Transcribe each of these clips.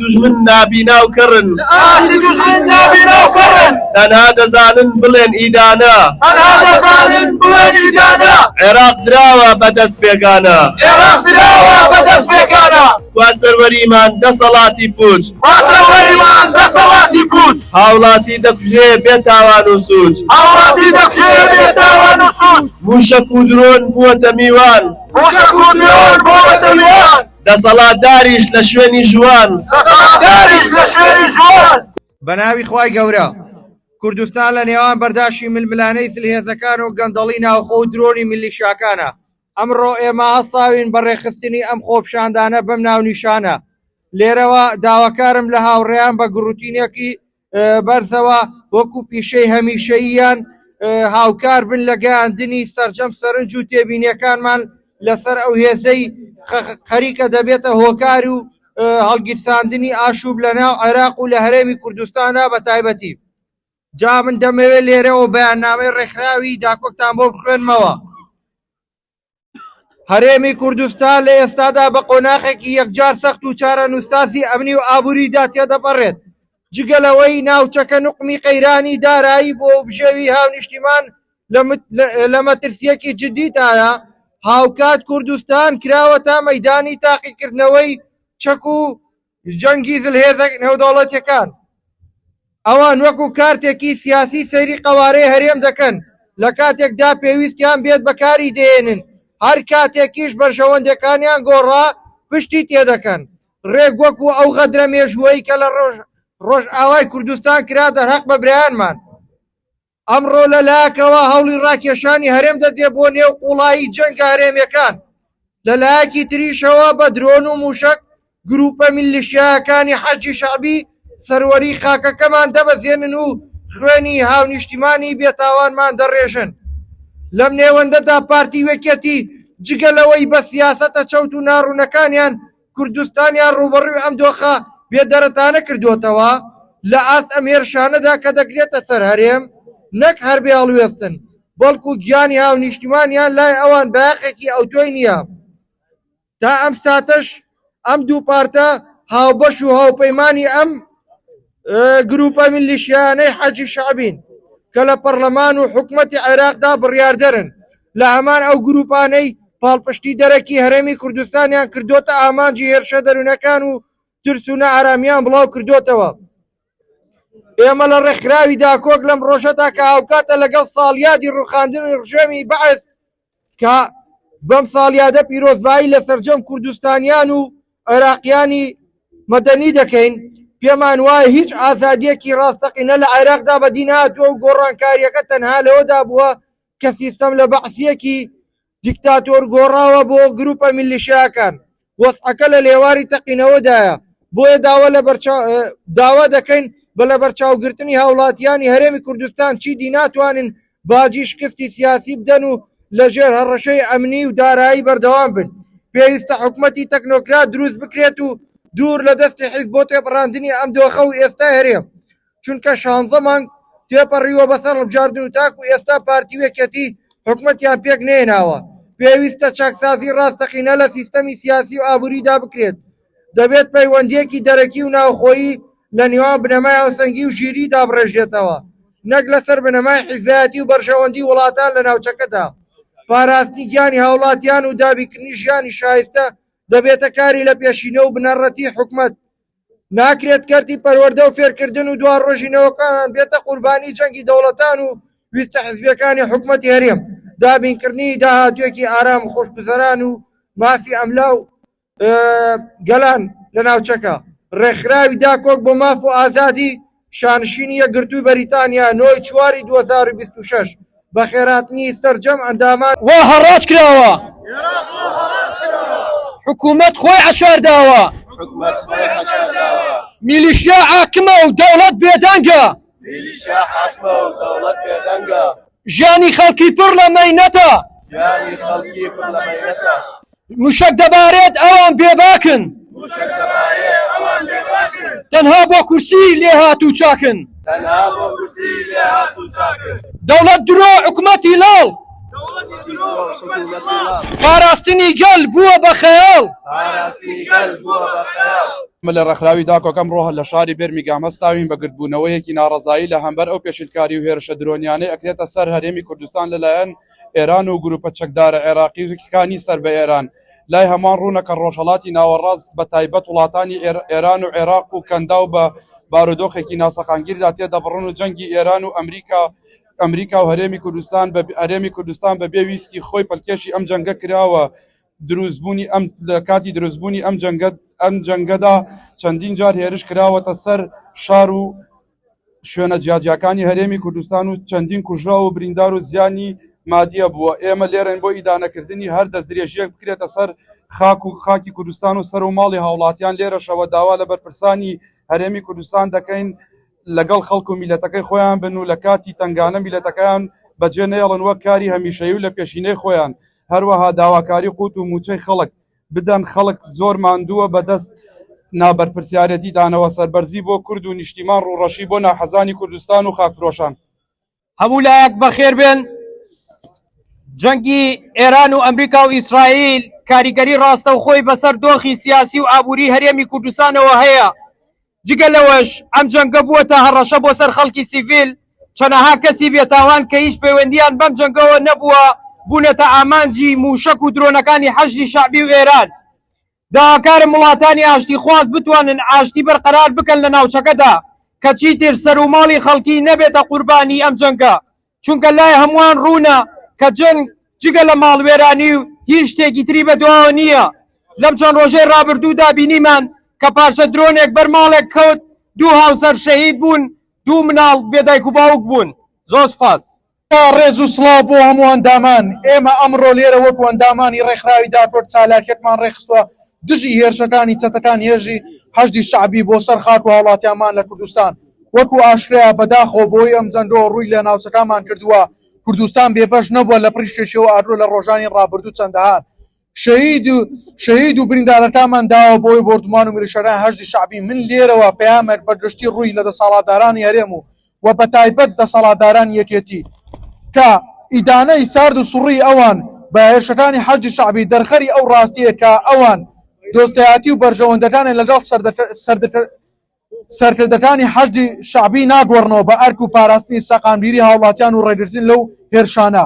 دوژمن نابینا و کەڕن. ئاستی دوژمن نابینا و کەڕن. تەنها دەزانن بڵێن ئیدانە. تەنها دەزانن بڵێن ئیدانە. عێراق دراوە بە دەست بێگانە. عێراق دراوە بە دەست بێگانە. کوا سەروەریمان دەسەڵاتی پووچ؟ کوا سەروەریمان دەسەڵاتی پووچ؟ هاوڵاتی دەکوژرێ بێ تاوان و سووچ. هاوڵاتی دەکوژرێ بێ تاوان و سووچ. مووشەک و درۆن بووەتە میوان. مووشەک و درۆن بووەتە میوان. دەسەڵاتداریش لە شوێنی ژووان. بەناوی خوای گەورە. کوردستان لە نێوان بەرداشی ململانێی زلهێزەکان و گەندەڵی ناوخۆ و درۆنی میلیشاکانە. ئەمڕۆ ئێمە هەستاوین بە ڕێکخستنی ئەم خۆپیشاندانە بەم ناونیشانە. لێرەوە داواکارم لە هاوڕێیان بە گڕوتینێکی بەرزەوە وەکو پیشەی هەمیشەییان هاوکار بن لە گەیاندنی سەرجەم سەرنج و تێبینیەکانمان لەسەر ئەو هێزەی خەریکە دەبێتە هۆکار و هەڵگیرساندنی ئاشوب لە ناو عێراق و لە هەرێمی کوردستانە بە تایبەتی جا من دەمەوێت لێرەوە بەیاننامەی ڕێکخراوی داکۆکتان بۆ بخوێنمەوە. هەرێمی کوردستان لە ئێستادا بە قۆناخێکی یەکجار سەخت و چارەنووسسازی ئەمنی و ئابووریدا تێدەپەڕێت، جگە لەوەی ناوچەکە نوقمی قەیرانی دارایی بووە و بژێوی هاونیشتیمان لە مەترسییەکی جددیدایە، هاوکات کوردستان کراوەتە مەیدانی تاقیکردنەوەی چەک و جەنگی زلهێزە نێودەوڵەتیەکان ئەوان وەکو کارتێکی سیاسی سەیری قەوارەی هەرێم دەکەن لە کاتێکدا پێویستیان بێت بەکاری دێنن هەر کاتێکیش بەرژەوەندەکانیان گۆڕا پشتی تێدەکەن ڕێک وەکو ئەو غەدرە مێژووەی کە لە ڕۆژ ڕۆژ ئاوای کوردستان کرا دەرهەق بە برایانمان ئەمڕۆ لە لایەکەوە هەوڵی ڕاکێشانی هەرێم دەدرێت بۆ نێو قوڵایی جەنگە هەرێمیەکان، لە لایەکی تریشەوە بە درۆن و موشەک گروپە میللیشیایەکانی حەشدی شەعبی سەروەری خاکەکەمان دەبەزێنن و خوێنی هاونیشتیمانی بێتاوانمان دەڕێژن. لەم نێوەندەدا پارتی و یەکێتی جگە لەوەی بە سیاسەتە چەوت و ناڕوونەکانیان کوردستانیان ڕووبەڕووی ئەم دۆخە بێدەرەتانە کردووەتەوە، لە ئاست ئەم هێرشانەدا کە دەکرێتە سەر هەرێم، نەک هەر بێ هەڵوێستن، بەڵکو گیانی هاونیشتیمانیان لای ئەوان بایەخێکی ئەوتۆی نییە. تا ئەم ساتەش ئەم دوو پارتە هاوبەش و هاوپەیمانی ئەم. گروپە میلیشیانەی حەجی شەعبین کە لە پەرلەمان و حکومەتی عێراقدا بڕیاردەرن لە هەمان ئەو گروپانەی پاڵپشتی دەرەکی هەرێمی کوردستانیان کردوتە ئامانجی هێرشە دەروونەکان و ترس و نەئارامیان بڵاو کردوتەوە ئێمە لە ڕێکخراوی داکۆک لەم ڕۆژەدا کە هاوکاتە لەگەڵ ساڵیادی ڕوخاندنی ڕژێمی بەعس کە بەم ساڵیادە پیرۆزبایی لە سەرجەم کوردستانیان و عێراقیانی مەدەنی دەکەین پێمان وایە هیچ ئازادیەکی ڕاستەقینە لە عێراقدا بەدی ناتوە و گۆڕانکاریەکە تەنها لەوەدا بووە کە سیستەم لە بەعسیەکی دیکتاتۆر گۆڕاوە بۆ گروپە میلیشیاکان وەزعەکە لە لێواری تەقینەوەدایە، بۆیە داوا لە داوا دەکەین بە لەبەرچاوگرتنی هاوڵاتییانی هەرێمی کوردستان چیدی ناتوانن باجی شکستی سیاسی بدەن و لەژێر هەڕەشەی ئەمنی و دارایی بەردەوام بن. پێویستە حکومەتی تەکنۆکرات دروست بکرێت و دوور لە دەستی حیزب بۆ تێپەڕاندنی ئەم دۆخە و ئێستای هەرێم. چونکە شانزە مانگ تێپەڕیوە بەسەر ڕبژاردن و تاکو ئێستا پارتی و یەکێتی حکومەتیان پێک نەهێناوە، پێویستە چاکسازی ڕاستەقینە لە سیستەمی سیاسی و ئابووریدا بکرێت، دەبێت پەیوەندییەکی دەرەکی و ناوخۆیی لە نێوان بنەمای هاوسەنگی و ژیریی دابڕێژرێتەوە، نەک لەسەر بنەمای حیزبایەتی و بەرژەوەندی وڵاتان لە ناوچەکەدا، پاراستنی گیانی هاوڵاتیان و دابیکردنی ژیانی شایستە دەبێتە کاری لەپێشینە و بنەڕەتی حکومەت. ناکرێت کەرتی پەروەردە و فێرکردن و دوا ڕۆژی نەوەکانان بێتە قوربانی جەنگی دەوڵەتان و ویستە حزبیەکانی حکومەتی هەرێم دابینکردنی داهاتوێکی ئارام و خۆشگوزەران و مافی ئەملا و گەلان لە ناوچەکە ڕێکخراوی داکۆک بۆ ماف و ئازادی شانشینی یەکگرتووی بەریتانیا نۆ ی چواری دوو هەزار و بیست و شەش بە خێرهاتنی سەرجەم ئەندامان. وا هەڕاج کراوە حکومەت خۆی عەشار داوە میلیشیا حاکمە و دەوڵەت بێدەنگە. ژیانی خەڵکی پڕ لە مەینەتە. ژیانی خەڵکی پڕ لە مەینەتە. موشەک دەبارێت ئەوان بێباکن. موشەک دەبارێت ئەوان بێباکن. تەنها بۆ کورسی لێهاتوو چاکن. تەنها بۆ کورسی لێهاتوو چاکن. دەوڵەت درۆ حکومەتی لاڵ. دەوڵەتی درۆ حکومەتی لاڵ. پاراستنی گەل بووە بە خەیاڵ. پاراستنی گەل بووە بە خەیاڵ. من لە ڕێکخراوی داکۆک ئەمڕۆ لە شاری بێرمیگام هەستاوین بە گردبوونەوەیەکی ناڕەزایی لە هەمبەر ئەو پێشیلکاری و هێرشە درۆنیانەی ئەکرێتە سەر هەرێمی کوردستان لە لایەن ئێران و گروپە چەکدارە عێراقی کانی سەر بە ئێران لای هەموان ڕوونە کە ڕۆژهەڵاتی ناوەڕاست بە تایبەت وڵاتانی ئێران و عێراق و کەنداو بە بارودۆخێکی ناسەقامگیردا تێدەبڕن و جەنگی ئێران و ئەمریکا ئەمریکا و هەرێمی کوردستان بە هەرێمی کوردستان بە بێ ویستی خۆی پەلکێشی ئەم جەنگە کراوە دروستبوونی ئەم لە کاتی دروستبوونی ئەم جەنگە ئەم جەنگەدا چەندین جار هێرش کراوەتە سەر شار و شوێنە جیاجیاکانی هەرێمی کوردستان و چەندین کوژراو و بریندار و زیانی مادیە بووە ئێمە لێرەن بۆ ئیدانەکردنی هەر دەستدرێژیەک بکرێتە سەر خاک و خاکی کوردستان و سەر و ماڵی هاوڵاتیان لێرەشەوە داوا لە بەرپرسانی هەرێمی کوردستان دەکەین لەگەڵ خەڵک و میلەتەکەی خۆیان بن و لە کاتی تنگانە میلەتەکەیان بەجێ نەیەڵن وەک کاری هەمیشەی و لە پێشینەی خۆیان هەروەها داواکاری قوت و موچەی خەڵک بدەن خەڵک زۆر ماندووە بەدەست نابەرپرسیارەتیدانەوە سەربەرزی بۆ کورد و نیشتیمان ڕوڕەشی بۆ ناحەزانی کوردستان و خاکفرۆشان. هەموو لایەک بەخێر بێن. جەنگی ئێران و ئەمریکا و ئیسرائیل کاریگەری ڕاستەوخۆی بەسەر دۆخی سیاسی و ئابووری هەرێمی کوردستانەوە هەیە. جگە لەوەش ئەم جەنگە بووەتە هەڕەشە بۆ سەر خەڵکی سیڤیل، چەنەها کەسی بێتاوان کە هیچ پەیوەندییان بەم جەنگەوە نەبووە بوونەتە ئامانجی مووشەک و درۆنەکانی حەشدی شەعبی و ئێران. داواکارم وڵاتانی ئاشتیخواز بتوانن ئاشتی بەرقەرار بکەن لە ناوچەکەدا کە چیتر سەروماڵی خەڵکی نەبێتە قوربانی ئەم جەنگە چونکە لای هەمووان ڕوونە کە جەنگ جگە لە ماڵوێرانی و هیچ شتێکی تری بەدواوە نییە، لەم چەند ڕۆژەی ڕابردوودا بینیمان کە پارچە درۆنێک بەر ماڵێک کەوت دوو هاوسەر شەهید بوون، دوو مناڵ بێ دایک و باوک بوون. زۆر سپاس. ڕێز و سڵاو بۆ هەموو ئەندامان، ئێمە ئەمڕۆ لێرە وەکو ئەندامانی ڕێکخراوی داکۆرد چالاکیەکمان ڕێکخستوە دژی هێرشەکانی چەتەکانی هێرشی حەشدی شەعبی بۆ سەر خاک و هاوڵاتیانمان لە کوردستان، وەکو ئاشکرایە بەداخەوە بەوەی ئەم جەنگەوە ڕووی لە ناوچەکانمان کردووە، کوردستان بێبەش نەبووە لە پڕیشکێکی و ئاگرو لە ڕۆژانی ڕابردوو چەندەهان شەهید شەهید و بریندارەکانمان داوە بۆی بۆردومان و میلیشیاکانی حەشدی شەعبی من لێرەوە پەیامێک بە گشتی ڕووی لە دەسەاڵاتدارانی هەرێم و و بە تایبەت دەسەڵاتدارانی یەکێتی کە ئیدانەی سارد و سوڕی ئەوان بە هێرشەکانی حەشدی شەعبی دەرخەری ئەو ڕاستیە کە ئەوان دۆستایەتی و بەرژەوەندەکانی لەگەڵ سەردەکە سەردەکە سەرکردەکانی حەشدی شەعبی ناگۆڕنەوە بە ئەرک و پاراستنی سەقامگیری هاوڵاتیان و ڕێگرتن لەو هێرشانە،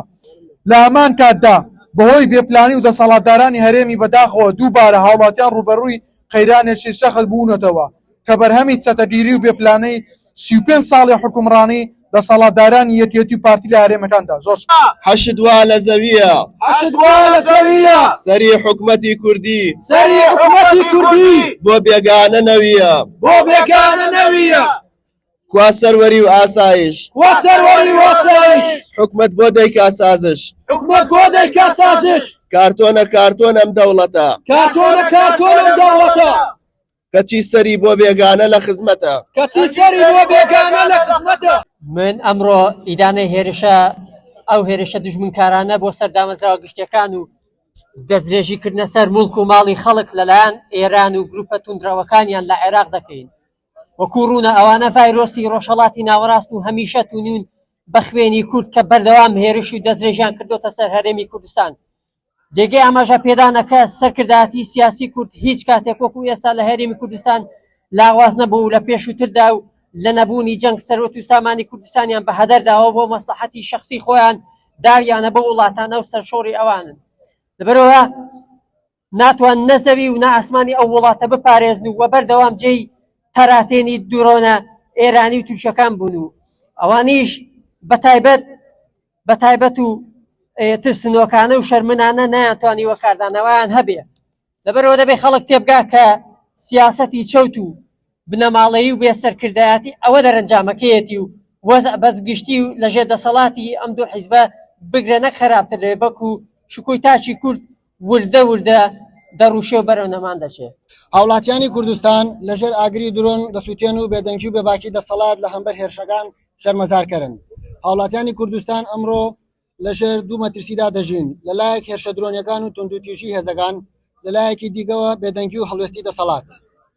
لە هەمان کاتدا بەهۆی بێپلانی و دەسەڵاتدارانی هەرێمی بەداخەوە دووبارە هاوڵاتیان ڕووبەڕووی قەیرانێکی سەخت بوونەتەوە کە بەرهەمی چەتەگیری و بێپلانەی سی و پێنج ساڵی حوکمڕانی دەسەڵاتدارانی یەکێتی و پارتی لە هەرێمەکاندا زۆر سوپاس. حەشد وا لە زەوییە. حەشد وا لە زەوییە. سەری حکومەتی کوردی. سەری حکومەتی کوردی. بۆ بێگانە نەوییە. بۆ بێگانە نەوییە. کوا سەروەری و ئاسایش. کوا سەروەری و ئاسایش. حکومەت بۆ دەیکا سازش. حکومەت بۆ دەیکا سازش. کارتۆنە کارتۆن ئەم دەوڵەتە. کارتۆنە کارتۆن ئەم دەوڵەتە. کەچی سەری بۆ بێگانە لە خزمەتە. کەچی سەری بۆ بێگانە لە خزمەتە. من ئەمڕۆ ئیدانەی هێرشە ئەو هێرشە دژمنکارانە بۆ سەر دامەزراوە گشتیەکان و دەسترێژی کردنە سەر مڵک و ماڵی خەڵک لەلایەن ئێران و گروپە توندرەوەکانیان لە عێراق دەکەین وەکو ڕوونە ئەوانە ڤایرۆسی ڕۆژهڵاتی ناوەڕاست و هەمیشە تونون بە خوێنی کورد کە بەردەوام هێرش و دەستێژیان کردوتە سەر هەرێمی کوردستان جێگەی ئاماژە پێدانە کە سەرکردایەتی سیاسی کورد هیچ کاتێک وەکو ئێستا لە هەرێمی کوردستان لاواز نەبوو و لە پێشووتردا و لە نەبوونی جەنگ سەروەت و سامانی کوردستانیان بە هەدەر داوە و بۆ مەسڵەحەتی شەخسی خۆیان داویانە بەو وڵاتانە و سەرشۆڕی ئەوانن لەبەرەوە ناتوان نە زەوی و نە ئاسمانی ئەو وڵاتە بپارێزن و بەردەوام جێی تەراتێنی درۆنە ئێرانی و تورکەکان بوون و ئەوانیش بە تایبەت بەتایبەت و ترسنۆکانە و شەرمنانە نەیانتوانیوە کاردانەوەیان هەبێ لەبەرەوە دەبێ خەڵک تێبگا کە سیاسەتی چەوت و بنەماڵەیی و بێسەرکردایەتی ئەوە دەرەنجامەکەیەتی و وەز بەس گشتی و لەژێ دەسەڵاتی ئەم دوو حیزبە بگرە نەک خراپتر دەێ بەکو شکوی تاچی کورد وردە وردە دەڕوشێ و بەرەو نەمان دەچێ. هاوڵاتیانی کوردستان لە ژێر ئاگری درۆن دەسوتێن و بێدەنگی و بێباکی دەسەڵات لە هەمبەر هێرشەکان شەرمەزارکەرن. هاوڵاتیانی کوردستان ئەمڕۆ لە ژێر دوو مەترسیدا دەژین، لە لایەک هێرشە درۆنیەکان و توندوتیژی هێزەکان، لە لایەکی دیگەوە بێدەنگی و هەڵوێستی دەسەڵات.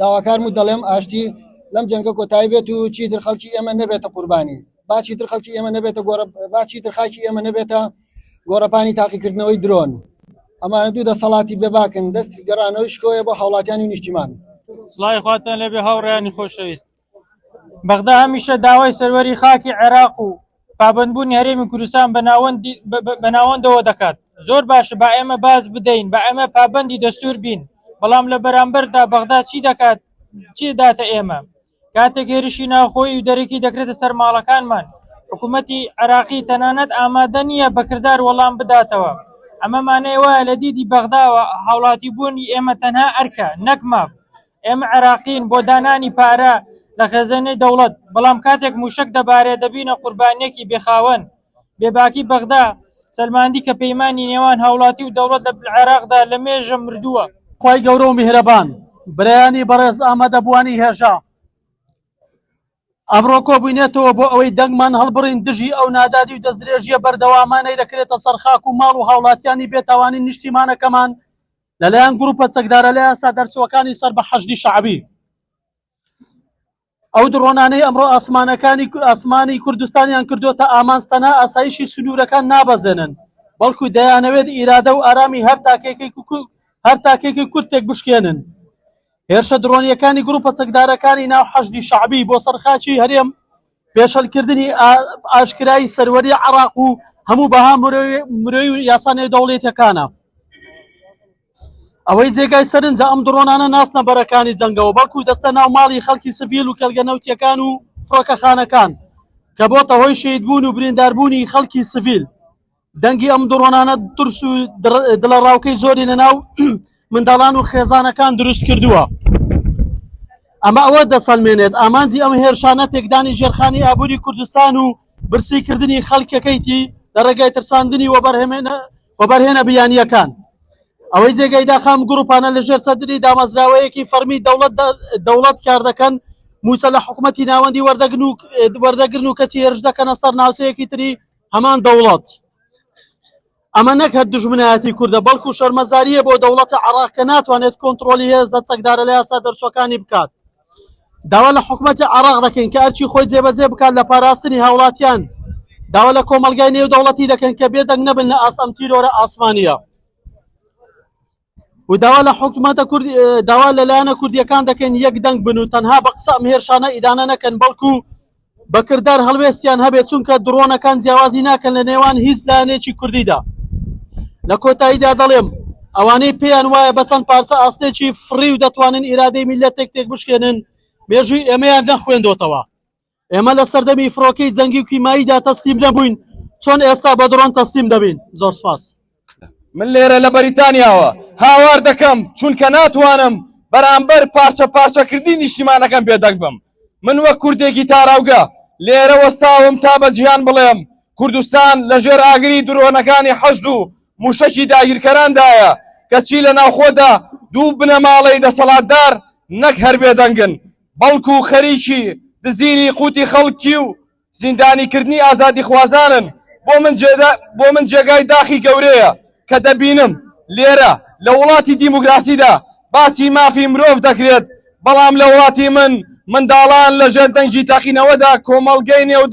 داواکارم و دەڵێم ئاشتی لەم جەنگە کۆتایی بێت و چیتر خەڵکی ئێمە نەبێتە قوربانی با چیتر خەڵکی ئێمە نەبێتە گۆڕە با چیتر خاکی ئێمە نەبێتە گۆڕەپانی تاقیکردنەوەی درۆن ئەمانە دوو دەسەڵاتی بێباکن دەستی گەڕانەوەی شکۆیە بۆ هاوڵاتیانی نیشتیمان سڵاوی خواتان لەبێ هاوڕێیانی خۆشەویست بەغدا هەمیشە داوای سەروەری خاکی عێراق و پابەندبوونی هەرێمی کوردستان بە ناوەندەوە دەکات. زۆر باشە با ئێمە باج بدەین، با ئێمە پابەندی دەستوور بین، بەڵام لە بەرامبەردا بەغدا چی دەکات، چی دەداتە ئێمە؟ کاتێک هێرشی ناوخۆیی و دەرەکی دەکرێتە سەر ماڵەکانمان، حکوومەتی عێراقی تەنانەت ئامادە نییە بە کردار وەڵام بداتەوە. ئەمە مانای وایە لە دیدی بەغداوە هاوڵاتیبوونی ئێمە تەنها ئەرکە، نەک ماف. ئێمە عێراقین بۆ دانانی پارە لە خێزێنەی دەوڵەت، بەڵام کاتێک مووشەک دەبارێ دەبینە قوربانییەکی بێ خاوەن. بێباکی بەغدا سەلماندی کە پەیمانی نێوان هاوڵاتی و دەوڵەت لە عێراقدا لە مێژە مردووە. خوای گەورە و میهرەبان برایانی بەڕێز ئامادەبووانی هێژا. ئەمڕۆ کۆبوینەتەوە بۆ ئەوەی دەنگمان هەڵبڕین دژی ئەو نادادی و دەستدرێژییە بەردەوامانەی دەکرێتە سەر خاک و ماڵ و هاوڵاتیانی بێتاوانی نیشتیمانەکەمان لەلایەن گروپە چەکدارە لە یاسا دەرچووەکانی سەر بە حەشدی شەعبی ئەو دڕۆنانەی ئەمڕۆ ئاسمانەکانی ئاسمانی کوردستانیان کردوتە ئامانج تەنها ئاسایشی سنوورەکان نابەزێنن بەڵکو دەیانەوێت ئیرادە و ئارامی هەر تاکێکی هەر تاکێکی کورتێک بشکێنن هێرشە درۆنییەکانی گروپە چەکدارەکانی ناو حەشدی شەعبی بۆ سەر خاکی هەرێم پێشەلکردنی ئاشکرایی سەروەری عراق و هەموو بەها مرۆی و یاسانەی دەوڵێتەکانە ئەوەی جێگای سەرنجە ئەم دڕۆنانە ناسنە بەرەکانی جەنگەوە بەڵکو دەستە ناو ماڵی خەڵکی سڤیل و کێلگە نەوتیەکان و فڕۆکەخانەکان کە بۆتە هۆی شید بوون و برینداربوونی خەڵکی سڤیل دەنگی ئەم دڕۆنانە ترس و دڵەڕاوکەی زۆری لەناو منداڵان و خێزانەکان دروست کردووە ئەمە ئەوە دەسەلمێنێت ئامانجی ئەم هێرشانە تێکدانی ژێرخانی ئابووری کوردستان و برسیکردنی خەڵکەکەیتی لە ڕێگای ترساندنی وەبەرهێنە وەبەرهێنە بیانیەکان ئەوەی جێگەی داخام گروپانە لە ژێر سەدری دامەزراوەیەکی فەرمی دەوڵەت دەوڵەت کار دەکەن موسە لە حکوومەتتی ناوەندی وەردەگن و وەردەگرن و کەچی هێرش دەکەنە سەر ناوسەیەکی تری هەمان دەوڵەت، ئەمە نەک هەر دوژمنایەتی کوردە، بەڵکو شەرمەزارییە بۆ دەوڵەتی عێراق کە ناتوانێت کۆنتڕۆلی هێزە چەکدارە لە یاسا دەرچووەکانی بکات. داوا لە حکومەتی عێراق دەکەین کە ئەرکی خۆی جێبەجێ بکات لە پاراستنی هاوڵاتیان، داوا لە کۆمەڵگای نێودەوڵەتی دەکەین کە بێدەنگ نەبن لە ئاست ئەم تیرۆرە ئاسمانییە. و داوا لە حکومەتە کورد داوا لە لایەنە کوردیەکان دەکەین یەک دەنگ بن و تەنها بە قسە ئەم هێرشانە ئیدانە نەکەن بەڵکو بە کردار هەڵوێستیان هەبێت چونکە دڕۆنەکان جیاوازی ناکەن لە نێوان هیچ لایەنێکی کوردیدا لە کۆتاییدا دەڵێم ئەوانەی پێیان وایە بە چەند پارچە ئاستێکی فڕی و دەتوانن ئیرادەی میلەتێک تێک بشکێنن مێژووی ئێمەیان نەخوێندۆتەوە ئێمە لە سەردەمی فڕۆکەی جەنگی و کیماییدا تەسلیم نەبووین چۆن ئێستا بە دڕۆن تەسلیم دەبین زۆر سپاس من لێرە لە بەریتانیاوە هاوار دەکەم چونکە ناتوانم بەرامبەر پارچە پارچەکردنی نیشتیمانەکەم بێدەنگ بم من وە کوردێکی تاراوگە لێرە وەستاوم تا بە جیهان بڵێم کوردستان لە ژێر ئاگری درۆنەکانی حەشد و موشەکی داگیرکەراندایە کەچی لە ناوخۆدا دوو بنەماڵەی دەسەڵاتدار نەک هەر بێدەنگن بەڵکو خەریکی دزینی قوتی خەڵکی و زیندانیکردنی ئازادیخوازانن، بۆ من بۆ من جێگای داخی گەورەیە کە دەبینم لێرە لە وڵاتی دیموکراسیدا باسی مافی مرۆڤ دەکرێت، بەڵام لە وڵاتی من منداڵان لەژێر دەنگی تەقینەوەدا کۆمەڵگەی نێو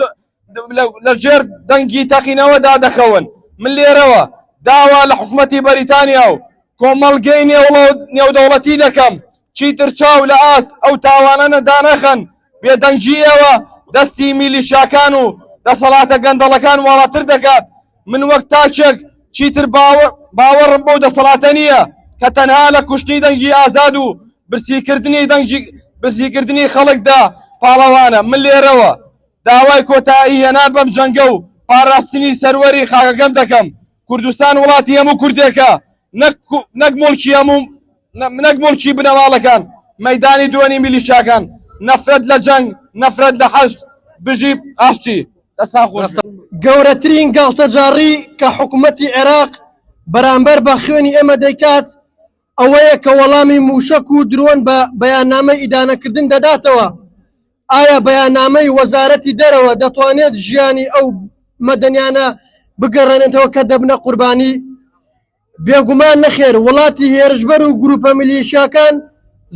لە ژێر دەنگی تەقینەوەدا دەکەون من لێرەوە داوا لە حکومەتی بەریتانیا و کۆمەڵگەی نێودەوڵەتی دەکەم چیتر چاو لە ئاست ئەو تاوانە نەدانەخەن بێدەنگی ئێوە دەستی میلیشاکان و دەسەڵاتە گەندەڵەکان واڵاتر دەکات من وەک تاکێک چیتر باوەڕم بۆ دەسەڵاتە نییە کە تەنها لە کوشتنی دەنگی ئازاد و برسیکردنی دەنگی برسیکردنی خەڵکدا پاڵەوانە من لێرەوە داوای کۆتایی هێنان بەم جەنگە و پاراستنی سەروەری خاکەکەم دەکەم، کوردستان وڵاتی هەموو کوردێکە نەک نەک موڵکی بنەماڵەکان، مەیدانی درۆنی میلیشیاکان، نەفرەت لە جەنگ، نەفرەت لە حەشد، بژی ئاشتی. دەستان خۆش. گەورەترین گاڵتەجاڕی کە حکومەتی عێراق بەرامبەر بە خوێنی ئێمە دەیکات ئەوەیە کە وەڵامی مووشەک و درۆن بە بەیاننامەی ئیدانەکردن دەداتەوە، ئایا بەیاننامەی وەزارەتی دەرەوە دەتوانێت ژیانی ئەو مەدەنیانە بگەڕێنێتەوە کە دەبنە قوربانی؟ بێگومان نەخێر، وڵاتی هێرشبەر و گروپە میلیشیاکان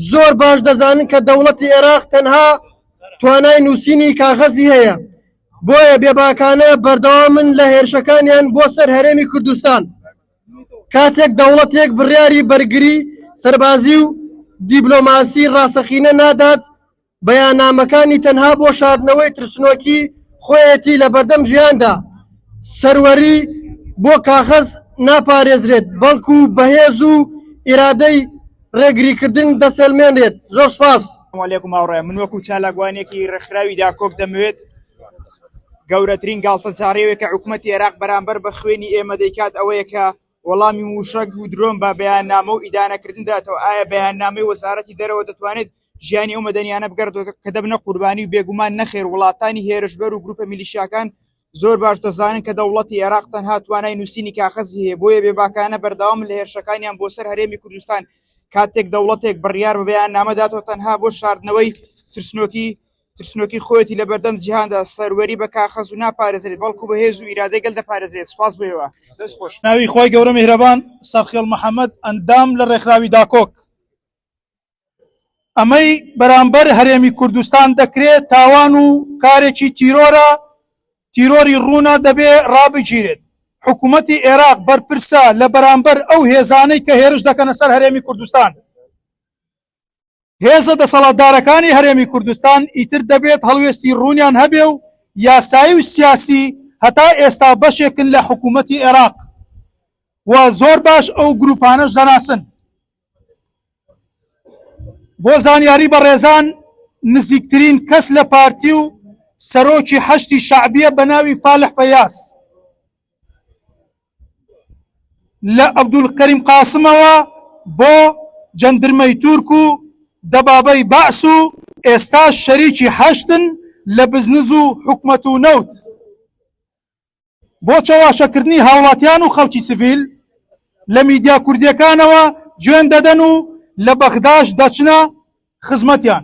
زۆر باش دەزانن کە دەوڵەتی ئێراق تەنها توانای نووسینی کاغەزی هەیە، بۆیە بێباکانە بەردەوامن لە هێرشەکانیان بۆ سەر هەرێمی کوردستان کاتێک دەوڵەتێک بڕیاری بەرگری سەربازی و دیبلۆماسی ڕاستەقینە نادات بەیاننامەکانی تەنها بۆ شاردنەوەی ترسنۆکی خۆیەتی لەبەردەم ژیاندا، سەروەری بۆ کاغەز ناپارێزرێت بەڵکو بەهێز و ئیرادەی ڕێگریکردن دەسەلمێنرێت. زۆر سپاس. سلام علیکم هاوڕێیان من وەکو چالاکوانێکی ڕێکخراوی داکۆک دەمەوێت گەورەترین گاڵتەجاڕیەوەی کە حکوومەتی عێراق بەرامبەر بە خوێنی ئێمە دەیکات ئەوەیە کە وەڵامی مووشەک و درۆن بە بەیاننامە و ئیدانەکردن داتەوە ئایا بەیاننامەی وەزارەتی دەرەوە دەتوانێت ژیانی ئەو مەدەنیانە بگەڕێتەوە کە دەبنە قوربانی و بێگومان نەخێر وڵاتانی هێرشبەر و گروپە میلیشیاکان زۆر باش دەزانن کە دەوڵەتی عێراق تەنها توانای نووسینی کاخەزی هەیە بۆیە بێباکانە بەردەوام لە هێرشەکانیان بۆ سەر هەرێمی کوردستان کاتێک دەوڵەتێک بڕیار بە بەیاننامە داتەوە تەنها بۆ شاردنەوەی ترسنۆکی ترسنۆکی خۆیەتی لە بەردەم جیهاندا سەروەری بە کاخەز و ناپارێزرێت بەڵکو بە هێز و ئیرادەی گەل دەپارێزرێت سپاس بۆ هێوا دەست خۆش. ناوی خوای گەورە میهرەبان سەرخێڵ محمد ئەندام لە ڕێکخراوی داکۆک ئەمەی بەرامبەر هەرێمی کوردستان دەکرێت تاوان و کارێکی تیرۆرە تیرۆری ڕوونە دەبێ ڕابگیرێت حکوومەتی عێراق بەرپرسە لە بەرامبەر ئەو هێزانەی کە هێرش دەکەنە سەر هەرێمی کوردستان هێزە دەسەڵاتدارەکانی هەرێمی کوردستان ئیتر دەبێت هەڵوێستی ڕوونیان هەبێ و یاسایی و سیاسی هەتا ئێستا بەشێکن لە حکوومەتی عێراق و زۆر باش ئەو گروپانەش دەناسن بۆ زانیاری بەڕێزان نزیکترین کەس لە پارتی و سەرۆکی حەشتی شعبیە بە ناوی فالح فەیاس لە عەبدولکەریم قاسمەوە بۆ جەندرمەی تورک و دەبابەی بەعس و ئێستا شەریکی حەشدن لە بزنز و حکومەت و نەوت بۆ چەواشەکردنی هاوڵاتیان و خەڵکی سڤیل لە میدیا کوردیەکانەوە جوێن دەدەن و لە بەغداش دەچنە خزمەتیان